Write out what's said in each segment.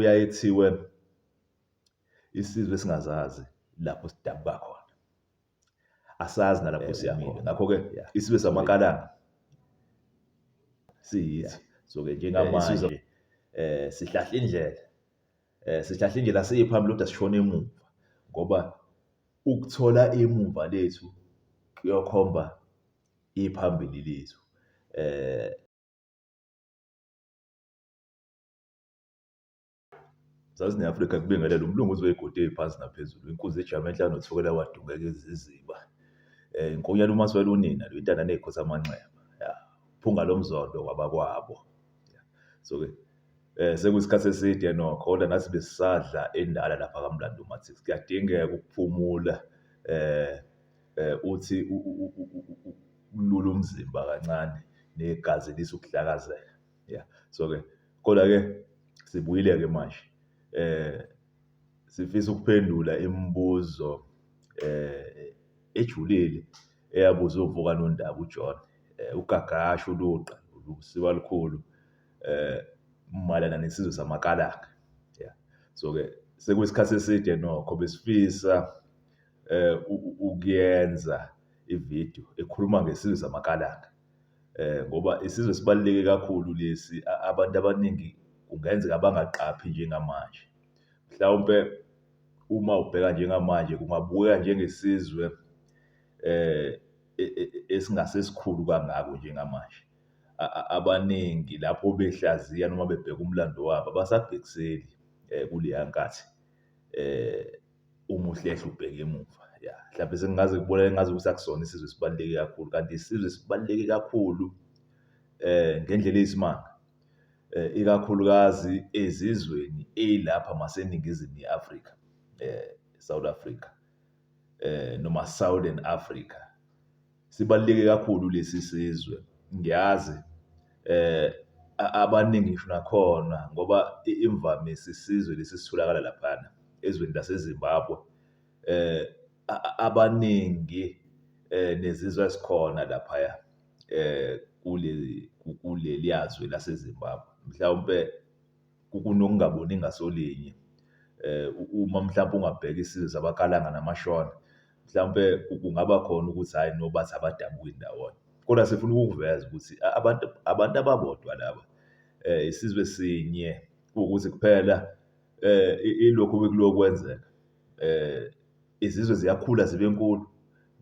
kuyaye kuthiwe isizwe singazazi lapho sidabuka khona asazi nalapho eh, siya khona ngakho-ke isizwe samakalanga siyithi so-ke njengamanje um eh, eh, sihlahla indlela um sihlahla indlela siye phambili kodwa sishona emuva ngoba ukuthola emuva lethu kuyokhomba iphambili lethu um Zazi ne-Afrika kubingelela umlungu uzwe igodi phansi naphezulu inkunzi ejama enhlanu nothukela wadungeka iziziba um inkonyana umaswela unina lo intana ney'khosi amanxeba ya phunga lo mzondo kwabakwabo so-ke um sekuyisikhathi eside nokho kodwa nathi besisadla endala lapha kamlando mathi kuyadingeka ukuphumula um um uthi ukulula umzimba kancane negazi lisa ukuhlakazeka Yeah. So ke kodwa ke sibuyile ke manje. Eh sifisa ukuphendula imibuzo eh ejulile eyabuzwa uvuka nondaba uJohn. Eh ugagasho uluqa lusiba lukhulu eh malana nesizwe samakalaka. Yeah. So ke sekuyisikhathi eside nokho besifisa eh ukuyenza ivideo ekhuluma ngesizwe samakalaka. ngoba isizwe sibaluleke kakhulu lesi. Abantu abaningi kungenzeka bangaqaphi njengamanje. Mhlawumpe uma ubheka njengamanje kungabukeka njengesizwe esingase sikhulu kangako njengamanje. Abaningi lapho behlaziya noma bebheka umlando wabo abasabhekiseli kuleya nkathi . uma uhlehla ubheke emuva ya mhlawumbe sengingaze kubonakale ngaze kusakusona isizwe sibaluleke kakhulu kanti isizwe sibaluleke kakhulu eh ngendlela eyisimanga eh ikakhulukazi ezizweni elapha maseningizimu yeAfrika eh South Africa eh noma Southern Africa Sibaluleke kakhulu lesi sizwe ngiyazi abaningi ngisho nakhona ngoba imvamisa isizwe lesi esitholakala laphana ezweni laseZimbabwe abaningi nezizwe ezikhona laphaya kuleli kuleliya zwe laseZimbabwe. Mhlawumpe kunokungaboni ngasolinye uma mhlawumpe ungabheka isizwe sabaKalanga namaShona mhlawumpe kungaba khona ukuthi hhayi no bathi abadabuki ndawonye. Kodwa sifuna ukukuveza ukuthi abantu abantu ababodwa laba isizwe sinye ukuthi kuphela ilokhu bekulokwenzeka izizwe ziyakhula zibe nkulu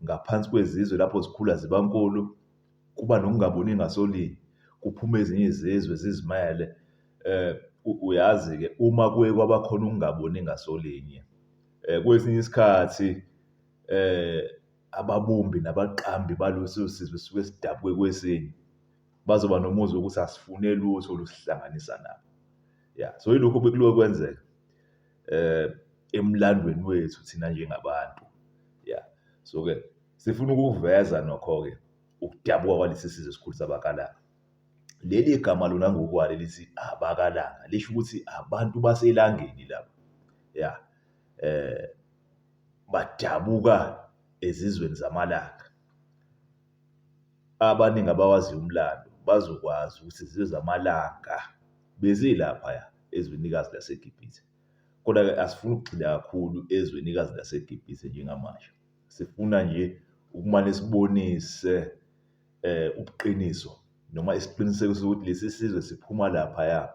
ngaphansi kwezizwe lapho zikhula ziba nkulu kuba nokungaboni ngasolinye kuphume ezinye izizwe zizimele um uyazi-ke uma kuye kwabakhona ukungaboni ngasolinye Kwesinye isikhathi ababumbi nabaqambi baleso sizwe sisuke sidabuke kwesinye, bazoba nomuzwa wokuthi asifune lutho olusihlanganisa nabo. Ya, so ilokhu obekuloke kwenzeka emlandweni wethu thina njengabantu. Ya, so-ke sifuna ukuveza nokho-ke ukudabuka kwalesi sizwe esikhulisa abakalayo. Leli gama lona ngokwalo lithi abakalanga lisho ukuthi abantu baselangeni laba. Ya. Eh badabuka ezizweni zamalanga. Abaningi abawaziyo umlando bazokwazi ukuthi izizwe zamalanga bezilaphaya ezwenikazi laseGibhithe. Kodwa-ke asifuni ukugxila kakhulu ezwenikazi laseGibhithe njengamanje. Sifuna nje ukumane sibonise ubuqiniso noma isiqinisekiso sokuthi lesi sizwe siphuma laphaya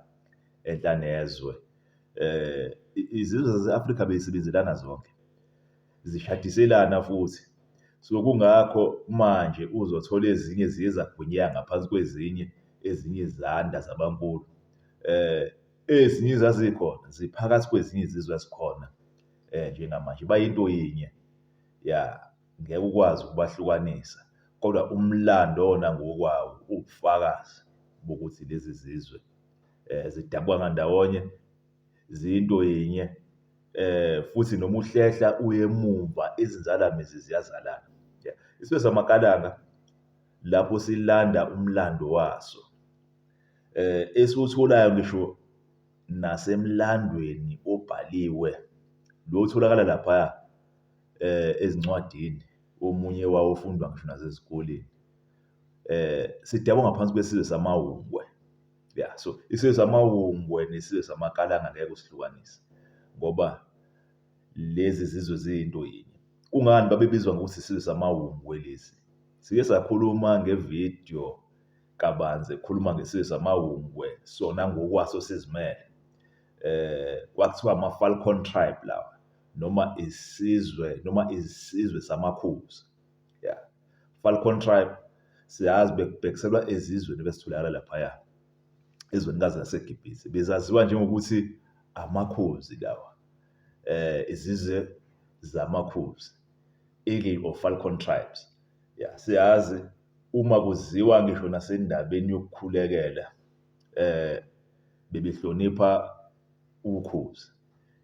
enhla nezwe. Izizwe zase-Afrika bey'sebenzelana zonke, zishadiselana futhi. So, kungakho manje uzothola ezinye ziye zagwinyeka ngaphansi kwezinye, ezinye zanda zabankulu. Ezinye ezazikhona ziphakathi kwezinye izizwe ezikhona njengamanje, bayinto yinye, ya. ngeke ukwazi ukubahlukanisa kodwa umlando wona ngokwawo uwubufakazi bokuthi lezi zizwe eh, zidabwa ngandawonye ziyinto yinye eh futhi noma uhlehla uye emumva izinzalamizi ziyazalana isizwe samakalanga lapho silanda umlando waso eh esiwutholayo ngisho nasemlandweni obhaliwe lo utholakala lapha ezincwadini, omunye wawo ufundwa ngisho nasezikoleni. Sidakwa ngaphansi kwesizwe samaHungwe. Ya, so isizwe samaHungwe nesizwe samaKalanga ngeke usihlukanise ngoba lezi zizwe ziyinto yinye. Kungani babebizwa ngokuthi isizwe samaHungwe lesi? Sike sakhuluma nge-video kabanzi ekhuluma ngesizwe samaHungwe sona ngokwaso sizimele. Kwakuthiwa ama-Falcon Tribe lawa. noma isizwe noma isizwe samakhuzi yeah Falcon tribe siyazi bekubhekiselwa ezizweni besitholakala laphaya ezwenikazi laseGibhithe bezaziwa njengokuthi amakhuzi lawa eh izizwe zamakhuzi eagle or falcon tribes ya siyazi uma kuziwa ngisho nasendabeni yokukhulekela eh bebehlonipha ukhuzi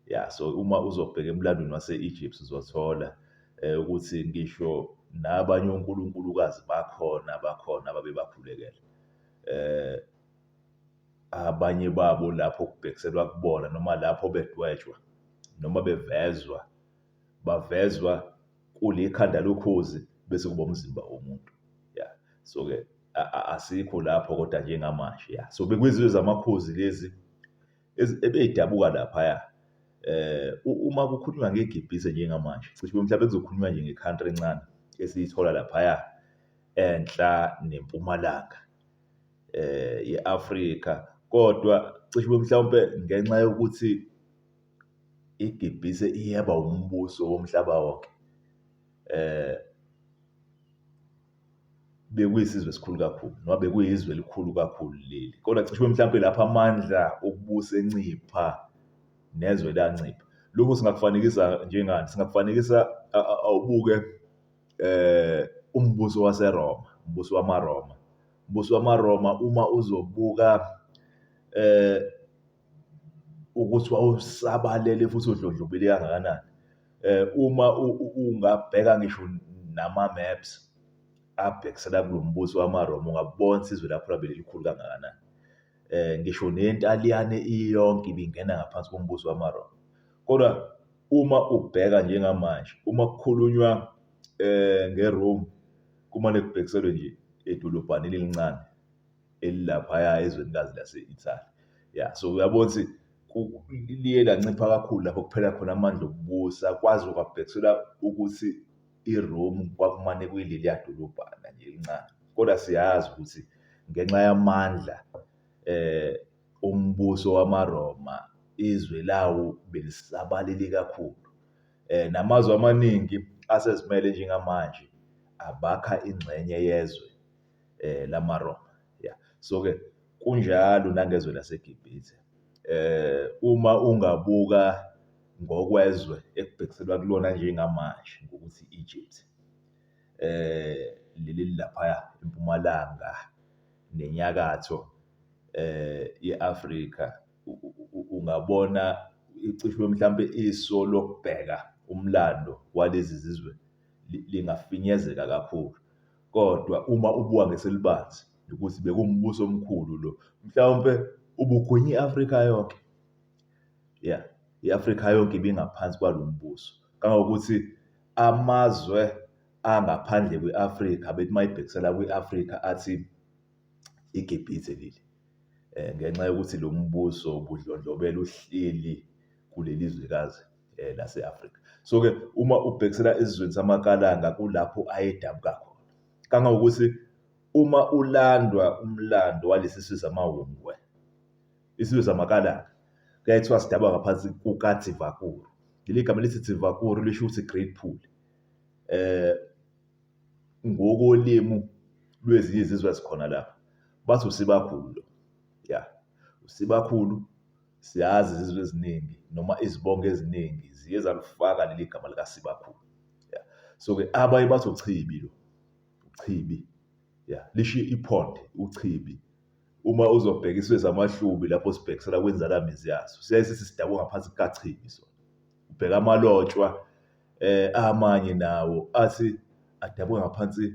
Ya, so uma uzobheka emlandweni wase-Egypt uzothola um ukuthi ngisho nabanye onkulunkulukazi bakhona abakhona ababebakhulekela. Um abanye babo lapho kubhekiselwa kubona noma lapho bedwetshwa noma bevezwa, bavezwa kulikhanda lokhozi bese kuba umzimba womuntu. Ya, so-ke asikho lapho kodwa njengamanje, ya. So, bekwizizwe zamakhozi lezi. ebeyidabuka laphaya um uma kukhulunywa ngegebhise njengamanje cishe kube mhlawumbe kuzokhulunywa nje nge-country encane esiyithola laphaya enhla nempumalanga um ye-afrika kodwa cishe kube mhlawumpe ngenxa yokuthi igebhise iyaba umbuso womhlaba wonke um bekuyisizwe esikhulu kakhulu noma bekuyizwe elikhulu kakhulu leli kodwa cishe mhlawumpe lapho amandla okubusa encipha nezwe lancipha lokhu singakufanekisa njengani singakufanekisa awubuke eh umbuso waseRoma umbuso wamaRoma umbuso wamaRoma uma uzobuka eh ukuthi wawusabalele futhi udlondlobile kangakanani eh uma ungabheka ngisho nama maps abhekisela kulombuso wamaRoma ungabona isizwe lapho labe likhulu kangakanani eh ngisho nentaliyane iyonke ibingena ngaphansi kombuso wamaRoma kodwa uma ubheka njengamanje uma kukhulunywa eh ngeRome kumane kubhekiselwe nje edolobhaneni elincane elilaphaya ezwenikazi lase-Italy. Ya, so uyabona ukuthi liye lancipha kakhulu lapho kuphela khona amandla okubusa, kwaze kwabhekisela ukuthi iRome kwakumane kuyileliya dolobhana nje elincane. Kodwa siyazi ukuthi ngenxa yamandla eh ombuso wamaRoma izwe lawo belisabalele kakhulu. Eh namazwe amaningi asezimele njengamanje abakha ingxenye yezwe eh lamaRoma yeah so ke kunjalo nangezwe laseGibhithe eh uma ungabuka ngokwezwe ekubhekiselwa kulona njengamanje ngokuthi Egypt eh leli lapha empumalanga nenyakatho eh yeAfrika ungabona icishe mhlambe iso lokubheka umlando walezi zizwe lingafinyezeka kakhulu. Kodwa uma ubuka ngeselibanzi ukuthi bekuwumbuso omkhulu lo, mhlawumpe ubugwinya i-Afrika yonke. Ya, i-Afrika yonke ibingaphansi kwalo mbuso. Kangangokuthi amazwe angaphandle kwe-Afrika bethi uma ibhekisela kwi-Afrika athi iGibhithe leli. Eh, ngenxa yokuthi lo mbuso ubudlondlobela uhleli kuleli zwekazi. eh, lase-afrika so-ke uma ubhekisela esizweni samakalanga kulapho ayedabuka khona kangangokuthi uma ulandwa umlando walesi sizwe samawungwe isizwe samakalanga kuyaye kuthiwa sidabwa ngaphansi kukathivakuru leli gama lithi thivakuru lisho ukuthi great pool eh ngokolimi lwezinye izizwe ezikhona lapha bathi usibakhulu lo ya usibakhulu Siyazi izizwe eziningi noma izibongo eziningi ziye zalifaka leli gama likaSibakhulu. Ya. So-ke abaye bathi uChibi lo. uChibi. Ya. Lisho iphonde, uChibi. Uma uzobheka isizwe samaHlubi lapho sibhekisela kwinzalamizi yaso, siyaye sithi sidakwe ngaphansi kukaChibi sona. Ubheka amalotshwa eh amanye nawo athi adakwe ngaphansi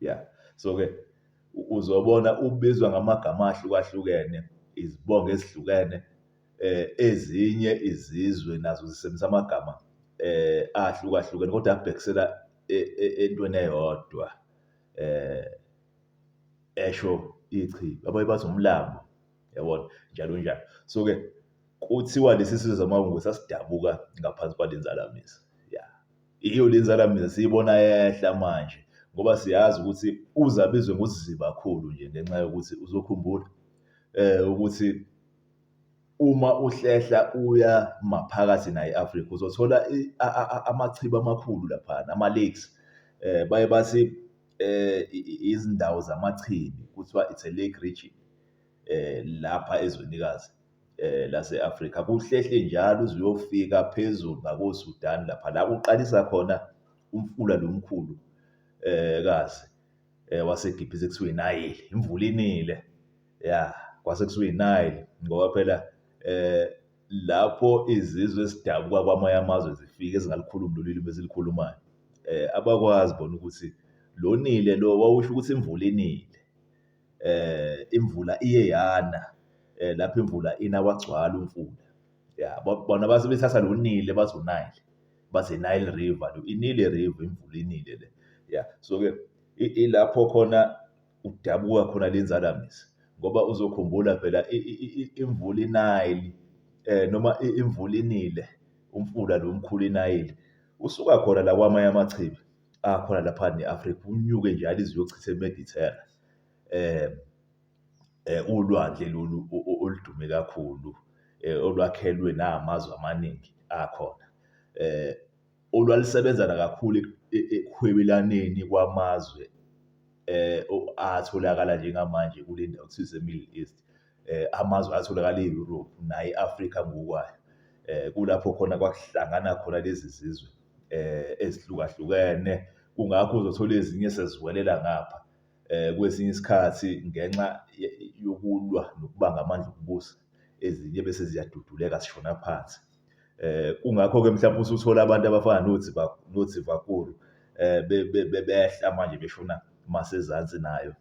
ya so-ke uzobona ubizwa ngamagama ahlukahlukene izibongo ezihlukene eh ezinye izizwe nazo zisebenzisa amagama eh ahlukahlukene kodwa abhekisela e, e, entweni eyodwa eh esho ichi abaye bathi umlambo yabona njalo njalo so ke kuthiwa lesi sizwe zamawungu sasidabuka ngaphansi kwalenzalamise Iyo le nzala mina siyibona yehla manje ngoba siyazi ukuthi uze abizwe ngoziziba kakhulu nje ngenxa yokuthi uzokhumbula um ukuthi uma uhlehla uya maphakathi nayo i-Afrika uzothola amachibi amakhulu laphana, ama-lakes. Um baye bathi um izindawo zamachibi kuthiwa it's a lake region lapha ezwenikazi. lase-Afrika kuhlehle njalo uze uyofika phezulu ngakoSudan lapha la kuqalisa khona umfula lo mkhulu kazi waseGibhithe kuthiwa iNayile, imvula inile ya kwase kuthiwa iNayile ngoba phela lapho izizwe ezidabuka kwamanye amazwe zifike ezingalikhulumi lolu limi ezilikhulumayo abakwazi bona ukuthi lo nile lo wawusho ukuthi imvula inile. imvula iye yana lapho imvula ina kwagcwala umfula ya bona base bethatha lo Nile bathi uNile bathi Nile River inile river imvula inile le ya so-ke ilapho khona udabuka khona le nzalamizi ngoba uzokhumbula phela imvula inayili eh noma imvula inile umfula lo mkhulu inayili usuka khona la kwamanye amachibi. akhona lapha ne-Afrika unyuke nje alize uyochitha eMedithera um um ulwandle lolu oludume kakhulu um olwakhelwe namazwe amaningi akhona um olwalisebenzana kakhulu e, e, ekuhwebelaneni kwamazwe um atholakala njengamanje kule ndawo kuthiwa ise-Middle East. um amazwe atholakala e-Europe naye i-Afrika ngokwayo um kulapho khona kwakuhlangana khona lezi zizwe um ezihlukahlukene kungakho uzothola ezinye seziwelela ngapha um kwesinye isikhathi ngenxa yokulwa nokubanga amandla okubusa ezinye bese ziyaduduleka zishona phansi eh kungakho ke mhlawumbe usuthola abantu abafana nothi nothi vakulu eh bebehla manje beshona masezansi nayo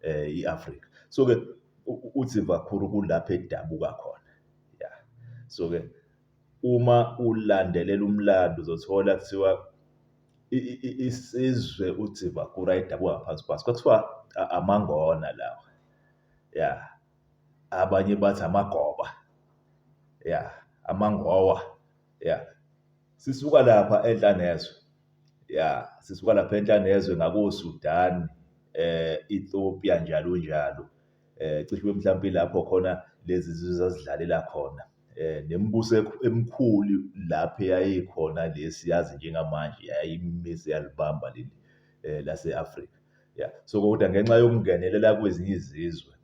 i-Afrika. So-ke uthi Vakhuru kulapho edabuka khona. Ya. So-ke uma ulandelela umlando uzothola kuthiwa isizwe uthi Vakhuru ayedabuka ngaphansi kwaso. Kwakuthiwa amangona lawa. Ya. Abanye bathi amagoba. Ya. Amangowa. Ya. Sisuka lapha enhlanezwe. ya sisuka lapha enhlanezwe ngakoSudan eh Ethiopia njalo njalo eh cishe mhlawumbe lapho khona lezi zizwe zazidlalela khona eh nemibuso emikhulu lapho yayikhona lesi yazi njengamanje yayimisa yalibamba leli eh laseAfrika ya so kodwa ngenxa yokungenelela kwezinye izizwe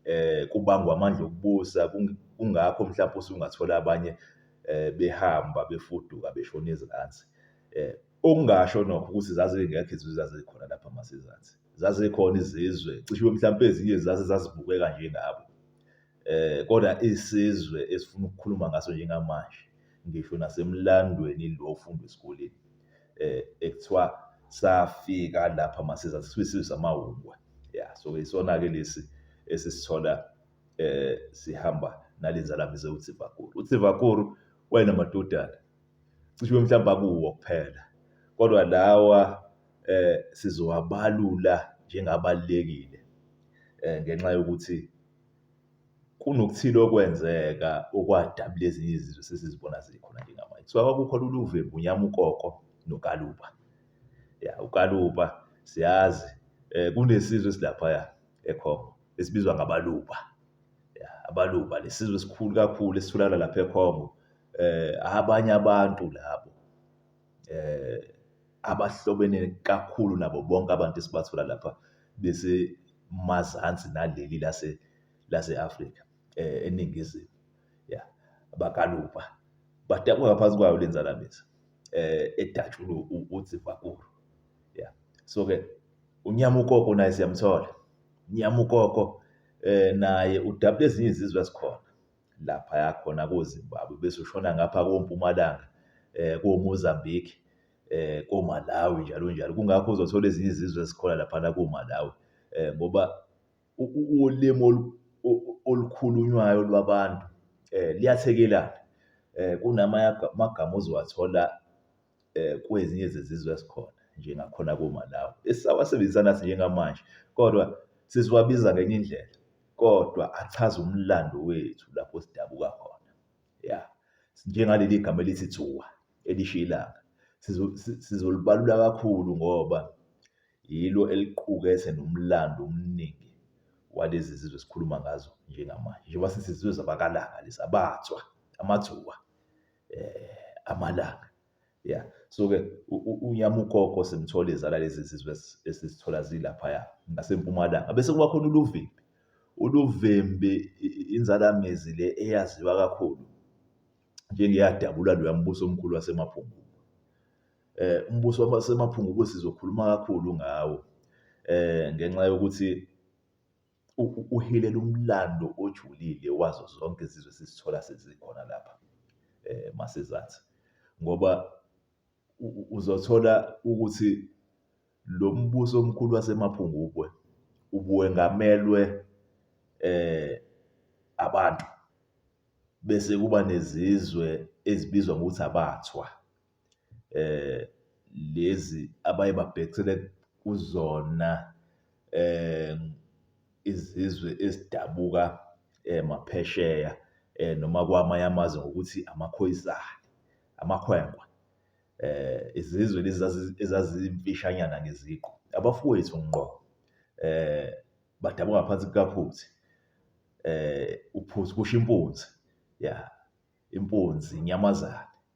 eh kubangwa amandla okubusa kungakho mhlawumbe usungathola abanye eh, behamba befuduka beshona ezansi eh, okungasho nokho ukuthi zazingekho izizwe zazikhona lapha masezansi zazikhona izizwe cishe mhlawumbe ezinye zaze zazibukeka njengabo eh kodwa isizwe esifuna ukukhuluma ngaso njengamanje ngisho nasemlandweni lo ofundwa esikoleni eh ekuthiwa safika lapha masezansi sisizwe samawungwe ya so isona ke lesi esisithola eh sihamba nalenzalamizi uTsivakuru uTsivakuru wayenamadodana cishe mhlawumbe akuwo kuphela kodwa lawa eh sizowabalula njengabalekile eh ngenxa yokuthi kunokuthile okwenzeka okwadabula ezinye izizwe sesizibona zikhona njengamanje kuthiwa kwakukhona uluve munyama ukoko nokaluba ya ukaluba siyazi um kunesizwe esilaphaya ekhongo esibizwa ngabaluba. Ya, abaluba lesizwe esikhulu kakhulu esitholakala lapha eCongo. Eh abanye abantu labo eh abahlobene kakhulu nabo bonke abantu esibathola lapha bese mazansi naleli lase lase-Afrika eh eningizimu. Ya, bakaluba. Batakwe ngaphansi kwayo lenzalamizi. Eh edatshulwe uTsivakuru. Ya. So ke unyama ukoko naye siyamthola. Nyamukoko eh naye udabula ezinye izizwe ezikhona lapha yakhona koZimbabwe bese ushona ngapha kompumalanga eh koMozambique eh koMalawi njalo njalo kungakho uzothola ezinye izizwe ezikhona lapha na koMalawi eh ngoba ulimo olukhulunywayo lwabantu eh liyathekelana eh kunamagama ozowathola kwezinye zezizwe ezikhona njengakhona koMalawi esisawasebenzisa nathi njengamanje kodwa sesiwabiza ngenye indlela kodwa achaza umlando wethu lapho sidabuka khona ya njengaleli gama elithi thuwa elisho ilanga sizolibalula kakhulu ngoba yilo eliqukethe nomlando omningi walezi zizwe esikhuluma ngazo njengamanje njengoba sesizizwe zabakalanga lezi abathwa amathuba eh amalanga yeah so ke unyamugogo simthole izala lezi zizwe esizithola zilaphaya ngasempumalanga bese kuba khona uluvimbi uluvimbi inzalamizi le eyaziwa kakhulu njengeyadabula loya mbuso omkhulu wasemaphungu eh umbuso wasemaphungu sizokhuluma kakhulu ngawo eh ngenxa yokuthi uhilela umlando ojulile wazo zonke izizwe sizithola sezikhona lapha masizansi ngoba uzothola ukuthi lo mbuso omkhulu wasemaphungubwe ubuwengamelwe eh abantu bese kuba nezizwe ezibizwa ngokuthi abathwa. lezi abaye babhekisele kuzona izizwe ezidabuka maphesheya noma kwamanye amazwe ngokuthi amakhoyisane, amakhwenkwe. Izizwe lezi ezazimfishanyana ngeziqu, abafowethu ngqo badabuka ngaphansi kukaPhuthi, uPhuthi kusho impunzi, ya impunzi inyamazane.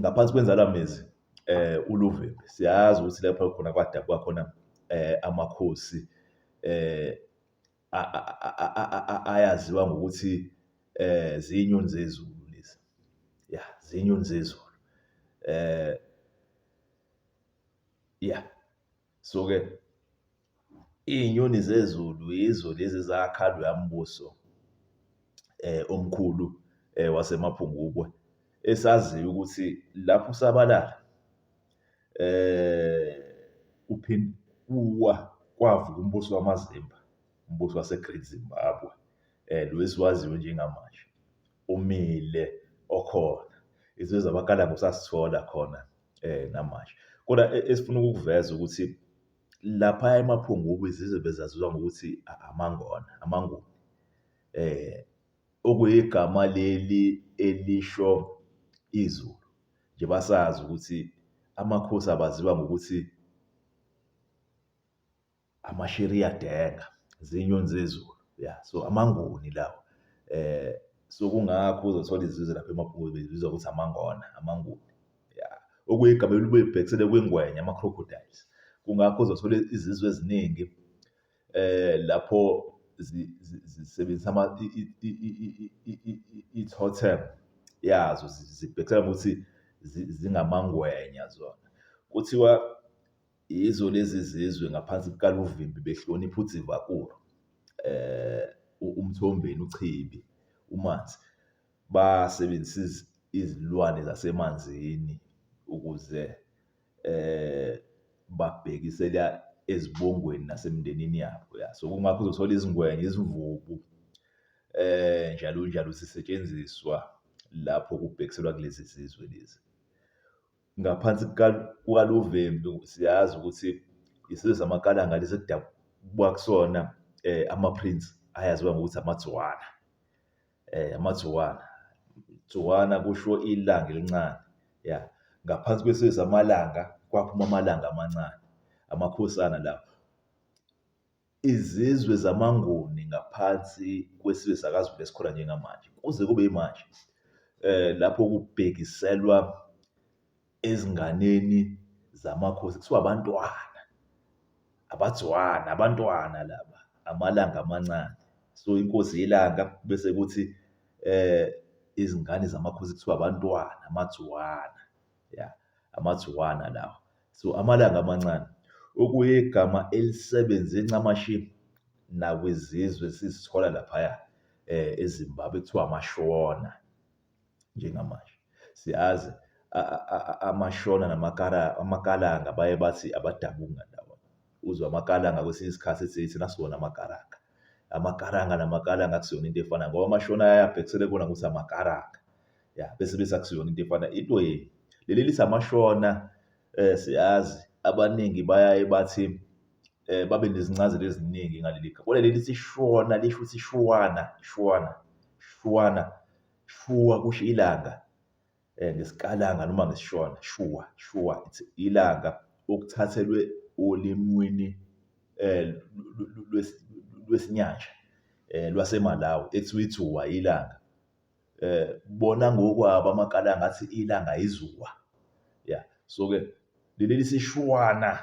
ngaphansi kwenzala mezi eh uluvimbi siyazi ukuthi lapho khona kwadabwa khona eh amakhosi eh ayaziwa ngokuthi eh zinyoni zezulu lezi ya zinyoni zezulu eh ya so ke Iy'nyoni zezulu yizo lezi ezakha loya mbuso omkhulu waseMaphungubwe, esaziyo ukuthi lapho usabalala kuwa, kwavuka umbuso wamaZimba, umbuso wase-Great Zimbabwe, lo esiwaziyo njengamanje, umile okhona. Izwe zabakalamusa sithola khona namanje. Kodwa esifuna ukukuveza ukuthi. Laphaya eMaphungubi zize bezaziwa ngokuthi amaNgona, amaNguni, okuyigama leli elisho iZulu. Nje basazi ukuthi amakhosi abaziwa ngokuthi aMashiriyadenga, zinyoni zezulu, ya. So, amaNguni lawa. So, kungakho uzothola izizwe lapha eMaphungubi zibizwa ngokuthi amaNgona, amaNguni. ya okuyigama elibuye libhekisele kwingwenya ama-crocodiles kungakho uzothola izizwe eziningi eh lapho zisebenzisa ama i-totem yazo zibhekisela ukuthi zingamangwenya zona kuthiwa yizo lezi zizwe ngaphansi kukaluvimbi behlonipha udzivakulu eh umthombeni uchibi umanzi basebenzisa izilwane zasemanzini ukuze babhekisela ezibongweni nasemndenini yabo. Ya, so kungakho uzothola izingwenya, izimvubu njalo njalo zisetshenziswa lapho kubhekiselwa kulezi zizwe lezi. Ngaphansi kukaLuvembu siyazi ukuthi isizwe samaKalanga lesi ekudabuka kusona ama-prince ayaziwa ngokuthi amaTswana. eh amagciwane gciwana kusho ilanga elincane ya ngaphansi kwesizwe amalanga kwaphuma amalanga amancane amakhosana lawo izizwe zamanguni ngaphansi kwesizwe sakazulu esikhona njengamanje kuze kube imanje eh lapho kubhekiselwa ezinganeni zamakhosi kuthiwa abantwana, abadzwana, abantwana laba, amalanga amancane. So inkosi yelanga bese kuthi eh izingane zamakhosi kuthiwa abantwana, amadzwana. Ya, amadzwana lawa. So amalanga amancane okuyigama elisebenze ncamashi nakwizizwe sizithola laphaya eh eZimbabwe kuthiwa amashona. njengamanje. Siyazi amaShona namaKalanga baye bathi abadabuki ngandawonye. Uzwe amaKalanga kwesinye isikhathi ethi thina siwona amaKaranga. AmaKaranga namaKalanga akusiyona into efanayo ngoba amaShona ayaye abhekisele kubona ukuthi amaKaranga. Ya, bese bese akusiyona into efanayo. Into yenu, leli lithi amaShona Siyazi abaningi bayaye bathi babe nezincazelo eziningi ngaleli gama. Kodwa leli lithi shona lisho ukuthi shuwana, shuwana, shuwana, shuwa kusho ilanga ngesikalanga noma ngesishona, shuwa, shuwa it's ilanga okuthathelwe olimini lwesiNyasha lwaseMalawi ekuthiwa ithuwa, ilanga. bona ngokwabo amakala ngathi ilanga izuwa ya so ke leli sishwana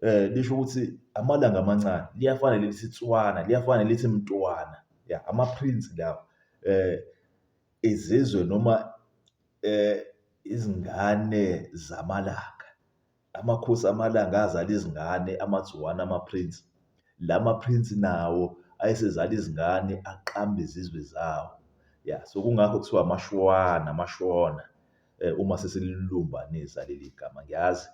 eh lisho ukuthi amalanga amancane liyafana leli sitswana liyafana lithi mntwana ya ama prince lawo eh izizwe noma eh izingane zamalanga Amakhosi amalanga azala izingane amaZuwana amaPrince. La maPrince nawo ayesezala izingane aqamba izizwe zawo. Ya so kungakho kuthiwa amaShwana amaShona eh, uma sesililumbanisa leli gama ngiyazi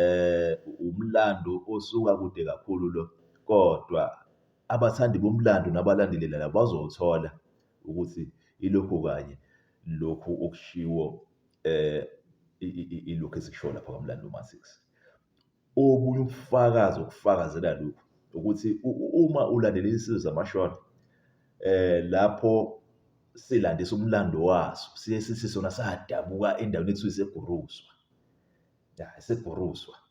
eh umlando osuka kude kakhulu lo kodwa abathandi bomlando nabalandelela bazowuthola ukuthi ilokhu kanye lokhu okushiwo eh ilokhu esikushoyo lapha kwaMlando Uma 6 obunye ubufakazi okufakazela lokhu ukuthi uma ulandela izinsizwa zamashona eh lapho silandisa umlando waso siye sithi sona sadabuka endaweni ethiwa iseguruzwa ya iseguruzwa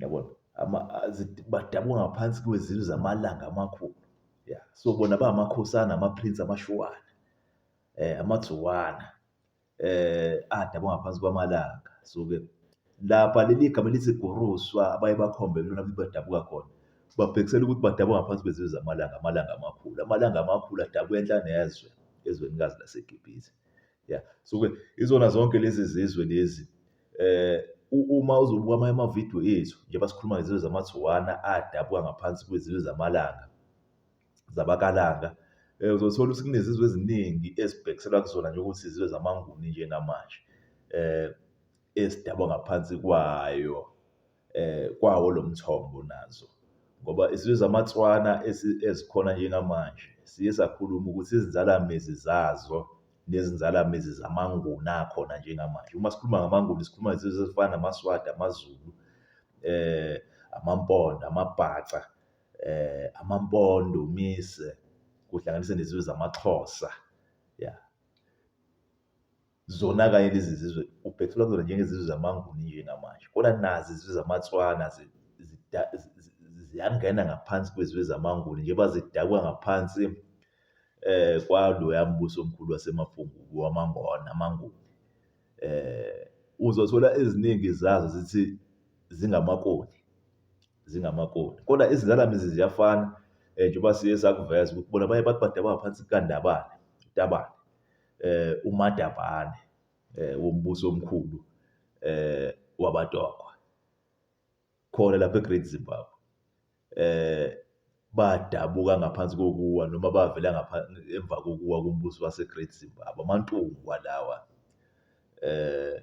yabona badabuka ngaphansi kwezizwe zamalanga amakhulu ya so bona bangamakhosana amaprince amashuwana eh amatsuwana eh adabuka ngaphansi kwamalanga so ke lapha leli gama lithi goruswa abaye bakhombe kulona badabuka khona babhekisela ukuthi badabuka ngaphansi kwezizwe zamalanga amalanga amakhulu amalanga amakhulu adabuka enhla nezwe ezwenikazi laseGibhithe ya so ke izona zonke lezi zizwe lezi eh uma uzobuka amanye amavidiyo ethu njengoba sikhuluma ngezizwe zamathuwana adabuka ngaphansi kwezizwe zamalanga zabakalanga um uzothola ukuthi kunezizwe eziningi ezibhekiselwa kuzona njengokuthi izizwe zamanguni njengamanje um ezidabwa ngaphansi kwayo kwawo lo mthombo nazo ngoba isizwe zamaTswana ezikhona njengamanje siye sakhuluma ukuthi izinzalamizi zazo nezinzalamizi zamaNguni akhona njengamanje. Uma sikhuluma ngamaNguni sikhuluma ngezizwe ezifana namaSwati, amaZulu, amaMpondo, amaBhaca, amaMpondo, uMise, kuhlanganise nezizwe zamaXhosa, ya. Zona kanye lezi zizwe ubhethula kuzona njengezizwe zamaNguni nje namanje, kodwa nazi izizwe zamaTswana ziyangena ngaphansi kwezizwe zamaNguni njengoba zidakwa ngaphansi eh kwaloya mbuso omkhulu waseMafungu wamaNgona amaNguni. Eh uzothola eziningi zazo zithi zingamakoni zingamakoni kodwa izindalamizi ziyafana eh, njengoba siye sakuveza ukuthi bona baye bathi badaba ngaphansi kukaNdabane uTabane eh uMadabane eh wombuso omkhulu eh wabatokwa khona lapha eGreat Zimbabwe eh badabuka ngaphansi kokuwa noma bavela ngaphansi emva kokuwa kombuso waseGreat Zimbabwe amantungu kwalawa eh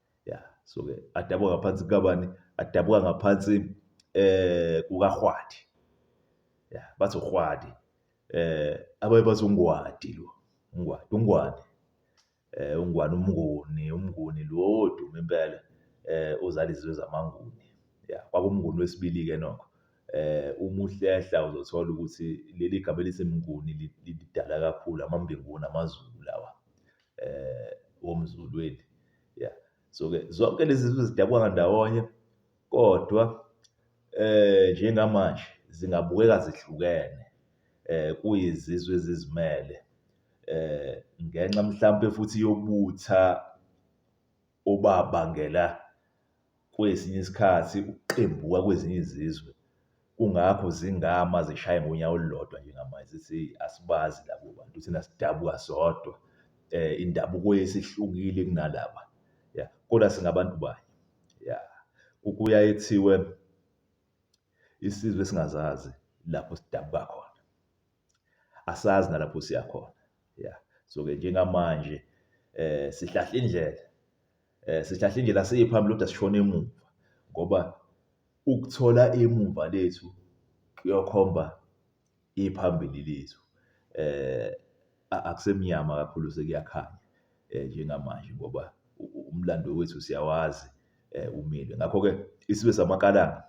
ya so ke adabuka ngaphansi kukabani adabuka ngaphansi eh kukaHwadi ya bathi uHwadi eh abaye bathi uNgwadi lo uNgwadi uNgwane eh uNgwane umnguni umnguni lo odume impela eh uzala izizwe zamanguni ya kwakumnguni wesibili ke nokho eh uma uhlehla uzothola ukuthi leli gama elithi mnguni lidala kakhulu amambinguni amaZulu lawa womzulwini. Ya. So-ke zonke lezi zizwe zidabuka ndawonye kodwa njengamanje zingabukeka zihlukene kuyizizwe ezizimele ngenxa mhlampe futhi yobutha obabangela kwesinye isikhathi ukuqembuka kwezinye izizwe kungakho zingama zishaye ngonyawo olulodwa njengamanje zithi asibazi labo bantu thina sidabuka sodwa eh indabuko yesihlukile kunalaba ya kodwa singabantu banye ya kuyaye kuthiwe isizwe singazazi lapho sidabuka khona asazi nalapho siya khona ya so ke njengamanje eh sihlahla indlela eh sihlahla indlela siyiphambili kodwa sishona emuva ngoba ukuthola emuva lethu kuyokhomba iphambili lethu eh akusemnyama kakhulu sekuyakhanya eh, njengamanje ngoba umlando wethu siyawazi eh, umile ngakho ke isibe samakalanga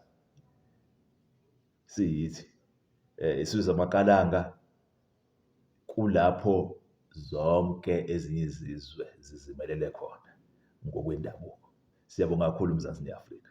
siyithi eh, isizwe samakalanga kulapho zonke ezinye izizwe zizimelele khona ngokwendabuko. Siyabonga kakhulu Mzansi neAfrika.